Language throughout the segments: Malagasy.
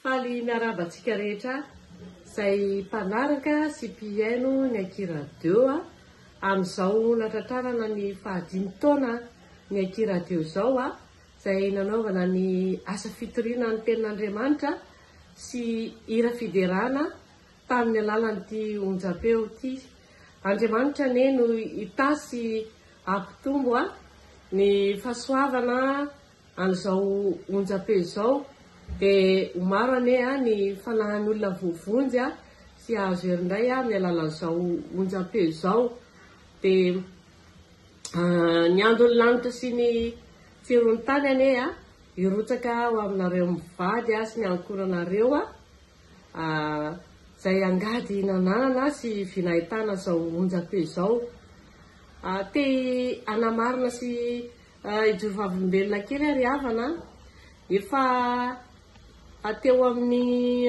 Faly miarahaba antsika rehetra izay mpanaraka sy mpihaino ny Aki Radio a! Amin'izao natratrarana ny fahadimy taona ny Aki Radio izao a! izay nanaovana ny asa fitoriana ny tenin'Andriamanitra sy hira fiderana tamin'ny alalan'ity onjam-peo ity. Andriamanitra anie no hitahy sy hampitombo a ny fahasoavana an'izao onjam-peo izao dia ho maro anie a ny fanahin'olona voavonjy a sy hahazo hery indray a amin'ny alalan'izao onjam-peo izao dia a ny andon'ny lanitra sy ny tsiron'ny tany anie a hirotsaka ho aminareo mivady a sy ny ankohonanareo a izay angady nananana sy vinahitana izao onjam-peo izao. Te hanamarina sy hijoro vavolombelona kely aho ry havana an! Efa teo amin'ny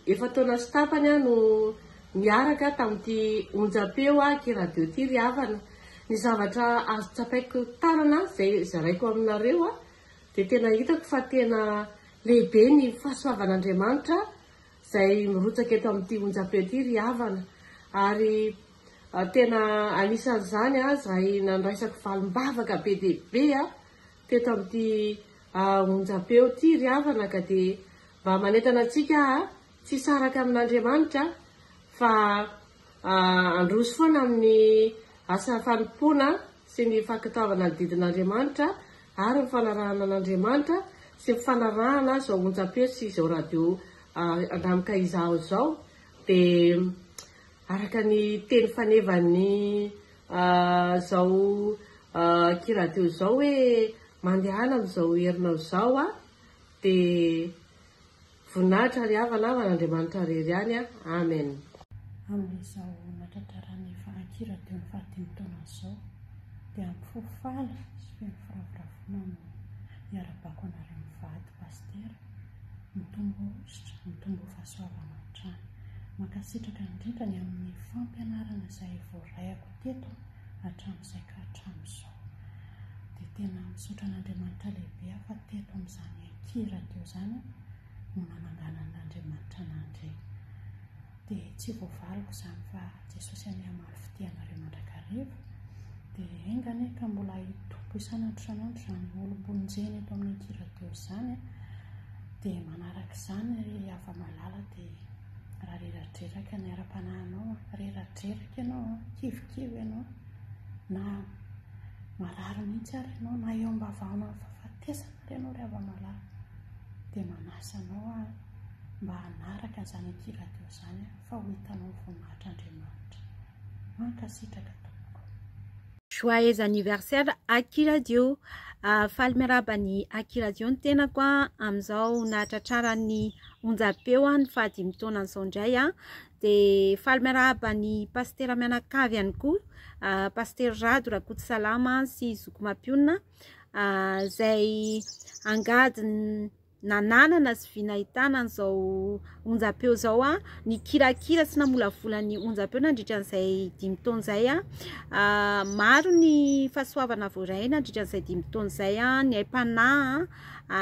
efa-taona sy tapany aho no niaraka tamin'ity onjam-peo Aky Radio ity ry havana. Ny zavatra azo tsapaiko tanana izay zaraiko aminareo an! dia tena hitako fa tena lehibe ny fahasoavan'Andriamanitra izay mirotsaka eto amin'ity onjam-peo ity ry havana ary tena anisan'izany aho izay nandraisako valim-bavaka be dia be aho teto amin'ity onjam-peo ity ry havana ka dia mba manentana antsika aho tsy hisaraka amin'Andriamanitra fa Handroso foana amin'ny asa fanompoana sy ny fankatoavana ny didin'Andriamanitra ary ny fanarahana an'Andriamanitra sy ny fanarahana izao onjam-peo sy izao radio Andramka Izaho izao dia araka ny teny fanevan'ny izao kiradio izao hoe mandehana amin'izao herinao izao aho dia Voninahitra ary havana havana Andriamanitra rery ihany a Amen. Amin'izao nahatrataran'ny Fahaki Radio ny fahadimy taonany izao dia hampifoha faly sy feno firavoravoana no hiara-bako anareo mivady Pasitera, mitombo hosotra, mitombo fahasoavana hatrany. Mankasitraka indrindra ny amin'ny fampianarana izay voarahiko teto hatramin'izay ka hatramin'izao. Dia tena misaotra an'Andriamanitra lehibe aho fa teto amin'izany Ity radio izany no nananganan' Andriamanitra an' Andry. Dia tsy voavaliko izany fa Jesosy anie hamaly fitia anareo mandrakariva. Dia enga anie ka mbola hitombo isan' andro isan' andro izany olom-bonjena eto amin' ity radio izany. Dia manaraka izany ry hava-malala dia raha reradreraka ny ara-panahinao an, reradreraka ianao an, kivikivy ianao, na marary mihitsy ary ianao, na eo am-bavahaona ny fahafatesana, Ianao ry Havamalala dia manasa anao aho mba hanaraka an'izany aty radio izany aho fa ho hitanao ny voninahitr' Andriamanitra. Mankasitraka tompoko. Joyeux anniversaire Aki Radio, faly miarahaba an'i Aki Radio ny tenako an, amin'izao nahatratraran'ny onjam-peo ny faha dimy taonany izao indray an, dia faly miarahaba an'i Pasitera mianakavy ihany koa, Pasitera Rado Rakotosalama sy Zoky Mampionona, izay angady nananana sy vy nahitana an'izao onjampeo izao, nikirakira sy namolavola ny onjampeo nandritra an'izay dimy taona izay. Maro ny fahasoavana voaray nandritra an'izay dimy taona izay, ny aim-panahy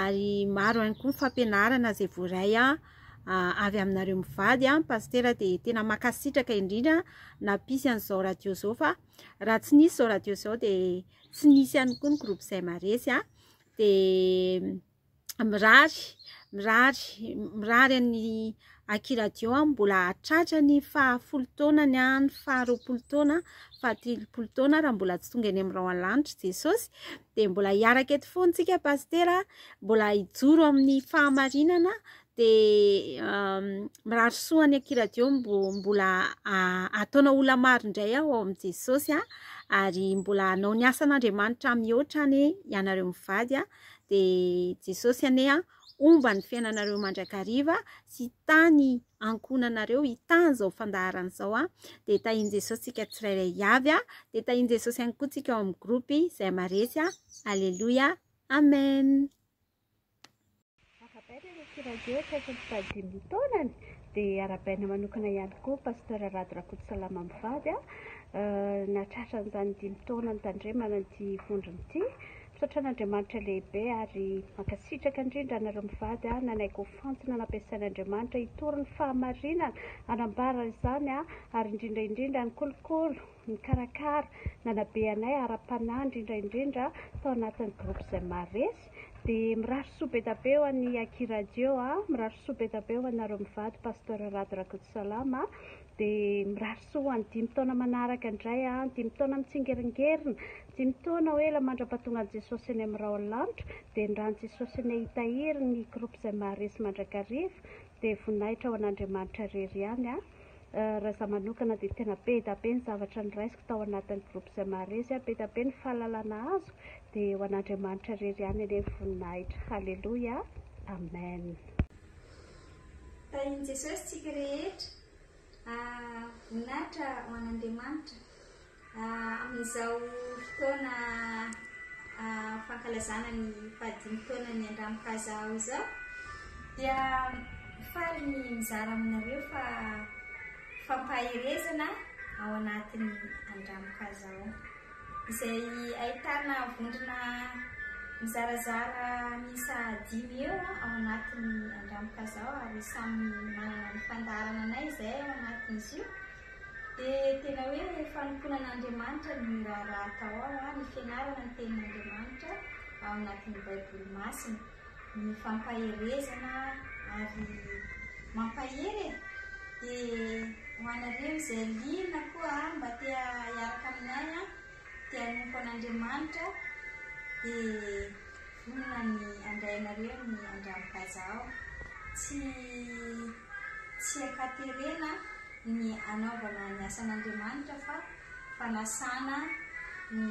ary maro ihany koa ny fampianarana izay voaray avy aminareo mivady. Ny pasitera dia tena mankasitraka indrindra nampisy an'izao radio izao fa raha tsy nisy izao radio izao dia... Tsy nisy ihany koa ny groupe izay maharesy a, dia mirary, mirary, mirary an'i Aki Radio aho mbola hahatratra ny fahafolo taonany, ny faharoapolo taona, fahatelopolo taona raha mbola tsy tonga eny amin'ny rahona lanitra i Jesosy, dia mbola hiaraka eto foana isika Pasitera, mbola hijoro amin'ny fahamarinana dia mirary soa any akiradio mbo mbola ataonao ola maro indray aho ao amin'i Jesosy a ary mbola hanao ny asan'Andriamanitra mihoatra anie ianareo mivady a dia Jesosy anie a homba ny fiainanareo mandrakariva sy tany ankohonanareo hitany izao fandaharana izao a dia tahian'i Jesosy tsika tsirairay avy a dia tahian'i Jesosy ihany koa tsika ao amin'ny gropy izay maresy a Alléluia Amen Arabaina ilay Sirajo akaiky ny fahadimy ny taonany, dia arabaina manokana ihany koa Pasteur Rado Rakotosalama mivady an, nahatratra an'izany dimy taona nitandremana ity vondrona ity. Misaotra an'Andriamanitra lehibe ary mankasitraka indrindra anareo mivady nanaiky ho fantina nampiasain'Andriamanitra hitory ny fahamarinana, hanambara izany ary indrindra indrindra nikolokolo, nikarakara, nanabe anay ara-panahy indrindra indrindra tao anatin'ny groupe izay maharesy. Dia mirary soa be da be ho an'i Aki Radio a, mirary soa be da be ho anareo mivady Pasteur Rado Rakotosalama, dia mirary soa ho an'ny dimy taona manaraka indray a, dimy taona mitsingeringerina, dimy taona ho ela mandra-pahatongan'i Jesosy eny amin'ny rahon'ny lanitra, dia ny ran'i Jesosy anie hitahiry ny groupe izay maharesy mandrakariva, dia voninahitra ho an'Andriamanitra irery ihany a. Raha za manokana dia tena be da be ny zavatra noraisiko tao anatin'ny groupe izay maharesy ahy, be da be ny fahalalana azoko, dia ho an'Andriamanitra irery ihany anie ny voninahitra. Haleloia! Amen. Tahin'i Jesosy tsika rehetra. Ah, voninahitra ho an'Andriamanitra. Amin'izao fotoana fankalazana ny fahadimy taonan'ny Andramokaza Ao izao dia faly ny mizara aminareo fa fampaherezana ao anatin'ny Andramokaza Ao izay ahitana vondrona mizarazara miisa dimy eo ao anatin'ny Andramokaza Ao ary samy manana ny fandaharananay izay ao anatin'izy io. Dia tena hoe fanompoana an'Andriamanitra ny miraharaha atao ao, ny fianarana ny Tenin'Andriamanitra ao anatin'ny Baiboly masina. Ny fampaherezana ary mampahery e! Dia ho anareo izay liana koa mba te hiaraka aminay, Dia hanompo an'Andriamanitra, dia vonona ny handray anareo ny andranokaja aho. Tsy, tsy ankaterena ny hanaovana ny asan'Andriamanitra fa fanasana ny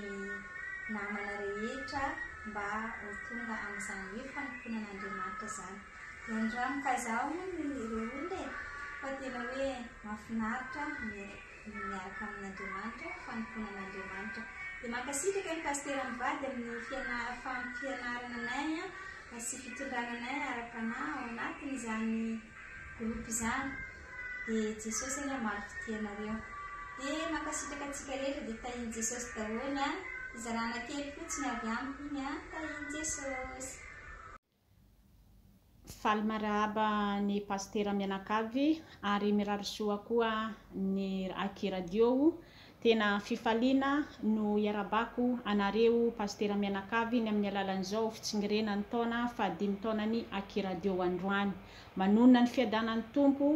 namana rehetra mba ho tonga amin'izany hoe fanompoana an'Andriamanitra izany. Dia andranokaja aho hono ireo olona e, fa tena hoe mahafinaritra ny. miaraka amin'Andriamanitra, fanompoana an'Andriamanitra. Dia mankasitraka ny Pasitera mivady amin'ny fianarana fampianarana anay sy fitondrana anay ara-panahy ao anatin'izany groupe izany. Dia Jesosy anie hamaly fitia anareo. Dia mankasitraka antsika rehetra dia tahian'i Jesosy daholo an. Fizarana kely fotsiny avy amiko iny an, tahian'i Jesosy. Faly marahaba ny Pasitera mianakavy ary mirary soa koa ny Aki Radio. Tena fifaliana no iarabako anareo Pasitera mianakavy ny amin'ny alalan'izao fitsingerenan'ny taona fahadimy taonan'ny Aki Radio androany. Manonona ny fiadanan'ny Tompo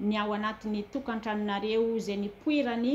ny ao anatin'ny tokantranonareo izay nipoirany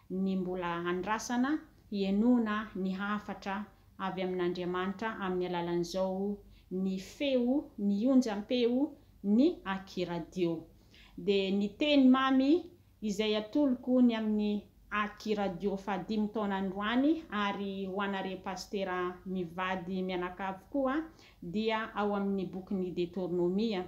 ny mbola andrasana hihenoana ny hafatra avy amin'Andriamanitra amin'ny alalan'izao ny feo, ny onjam-peo ny Akiradio. Dia ny teny mamy izay atoloko ny amin'ny Akiradio fahadimy taona androany ary ho anareo pasitera mivady mianakavy koa dia ao amin'ny bokin'i Detournomie.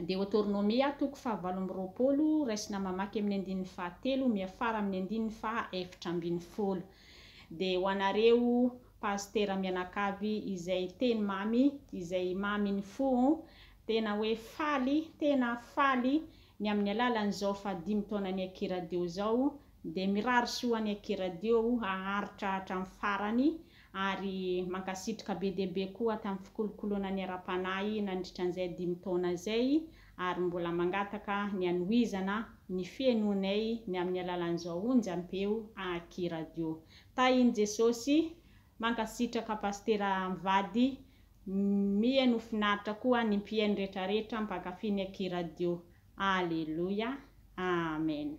Deoteronomia, toko fahavalo amby roapolo, raisina mamaky amin'ny andininy fahatelo miafara amin'ny andininy faha eftra ambin'ny folo. Dia ho anareo Pasitera mianakavy izay teny mamy izay mamy ny fo oh, tena hoe faly, tena faly ny amin'ny alalan'izao faha dimy taonan'i Akira Deo izao Dia mirary soa any aky radio o haharitra hatramin'ny farany ary mankasitrka be dia be koa tamin'ny fikolokoloana ny ara-panahy nandritra an'izay dimy taona izay ary mbola mangataka ny hanohizana ny fihenoanay ny amin'ny alalan'izao onjam-peo aky radio tahin'i Jesosy Mankasitraka Pasitera mivady Mihaino finaritra koa ny mpihaino rehetra rehetra mpankafy ny aky radio Aleloia Amen.